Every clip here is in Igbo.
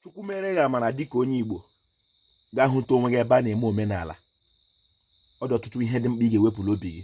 chukwu mere gị amara dịka onye igbo gaa hụta onwe gị ebe a na-eme omenala ọ dị ọtụtụ ihe dị mkpa ị ga-ewepụ l'obi gị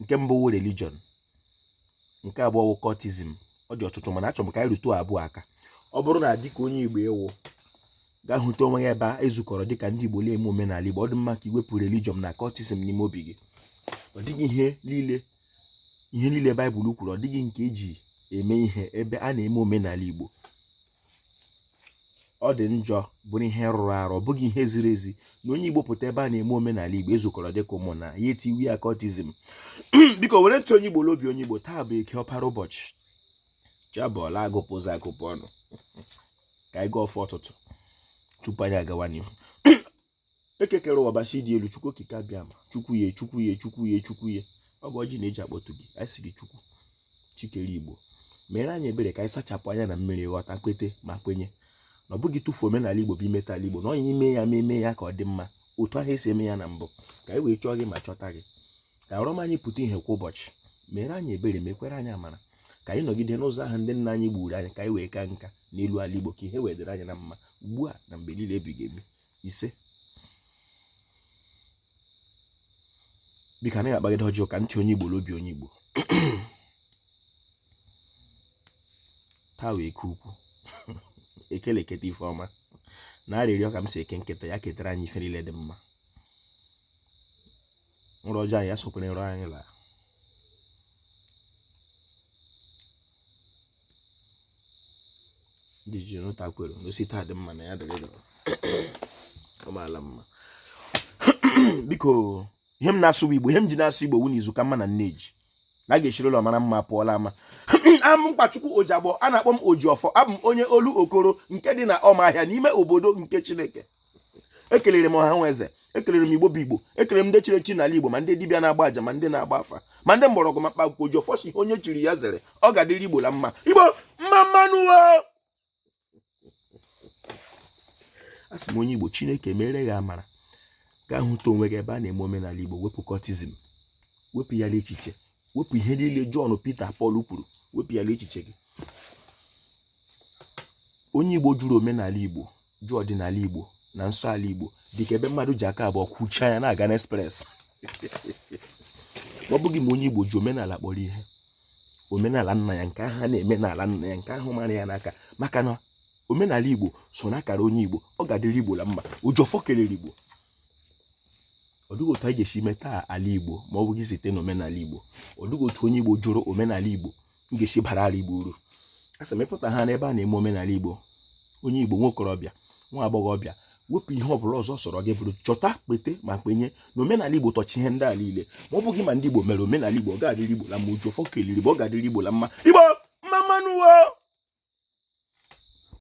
nke mbụ wụ religion nke abụọ wụ cultism ọ dị ọtụtụ mana achọrọ m ka anyị rụtụ abụọ aka ọ bụrụ na dịka onye igbo ị wụ gaa hụta onwe gị ebe a ezukọrọ dịka ndị igbo na-eme omenala igbo ọ dị mma ka i wepụ religion na cultism n'ime obi gị ọ dịghị ihe niile ihe niile baịbụl kwuru ọ dịghị nke e ji eme ihe ebe a na-eme omenala igbo ọ dị njọ bụrụ ihe rụrụ arụ ọ bụghị ihe ziri ezi na onye igbo pụta ebe a na-eme omenala igbo ezukọrọ dịka ụmụnna etiwe ya cultism biko were ntị onye igbo n'obi onye igbo taa bụ eke ọpara ụbọchị chi abọọla agụpụ ụzọ agụpụ ọnụ ka anyị gọọ ọfọ ụtụtụ tupu anyị agawa n'ihu eke kere ụwa ọbasị dị elu chukwu okike abịama chukwu ya chukwu ya chukwu ya chukwu ya ọ bụ ọjị na-eji akpọtụ gị anyị sị gị chukwu chi kere igbo mere anyị ebere ka anyị sachapụ anya na mmiri ghọta kwete ma kwenye na ọ bụghị ịtụfu omenala igbo bụ imeta ala igbo na onye ime ya ma eme ya ka ọ dị mma otu ahụ esi eme ya na mbụ ka anyị wee chọọ gị ma chọta gị ka arọm anyị pụta ihe kwa ụbọchị mere anyị ebere mekwere anyị amara ka anyị nọgide n'ụzọ ahụ ndị nna anyị gbuuru anyị ka anyị wee kaa nka n'elu ala igbo ka ihe wee dịrị anyị na mma ugbu a na mgbe niile ebighị ebi ise biko anaghị akpagide ọjọọ ka ntị onye Igbo n'obi onye Igbo taa wụ eke ukwu eke la-eketa ife ọma na arịrịọ ka m sị eke nketa ya ketara anyị ife niile dị mma nrọ ọjọọ anyị ya sokwere nrọ anyị laa ndị ji nụta kwere na o si taa dị mma na ya dịrị gawa ọ maala mma biko ihe m na-asụ igbo ihe m ji na-asụ igbo wụ na izu ka mma na nne ji na a ga-esiri ụlọ mara mma pụọ l'ama aha m mkpachukwu ojiagbọ a na-akpọ m ojiọfọ abụ m onye olu okoro nke dị na ọmahịa n'ime obodo nke chineke ekelere m ọha na eze ekelere m igbo bụ igbo ekelere m ndị chiri echi n'ala igbo ma ndị dibịa na-agba aja ma ndị na-agba afa ma ndị mgbọrọgwụ ma mkpaakwụkwọ ojiọfọ sị ihe onye chiri ya zere ọ ga-adịrị igbo la mma igbo mma mma nụ asị m onye igbo chineke mere gị amara gaa hụta onwe gị ebe a na-eme omenala igbo wepụ cultism wepụ ya n'echiche wepụ ihe niile Jọn Pita Pọl kwuru wepụ ya n'echiche gị onye igbo jụrụ omenala igbo jụ ọdịnala Igbo na nsọ ala Igbo dịka ebe mmadụ ji aka abụọ kwuchie anya na-aga n'express ọ bụghị ma onye Igbo ji omenala kpọrọ ihe omenala nna ya nke ahụ a na-eme n'ala nna ya nke ahụ mara ya n'aka maka na omenala Igbo so na akara onye Igbo ọ ga-adịrị Igbo la mma ojiọfọ kelere Igbo ọ dịghị otu anyị ga-esi meta ala Igbo ma ọ bụghị site na omenala Igbo ọ dịghị otu onye Igbo jụrụ omenala Igbo m ga-esi bara ala Igbo uru a sị m ịpụta ha n'ebe a na-eme omenala Igbo onye Igbo nwa okorobịa nwa agbọghọbịa wepụ ihe ọ bụla ọzọ ọ sọrọ gị bụrụ chọta kwete ma kwenye na omenala Igbo tọchi ihe ndị a niile ma ọ bụghị ma ndị Igbo mere omenala Igbo ọ ga-adịrị Igbo la mma ụjọ fọ keliri bụ ọ ga-adịrị Igbo la mma Igbo mma mma nụ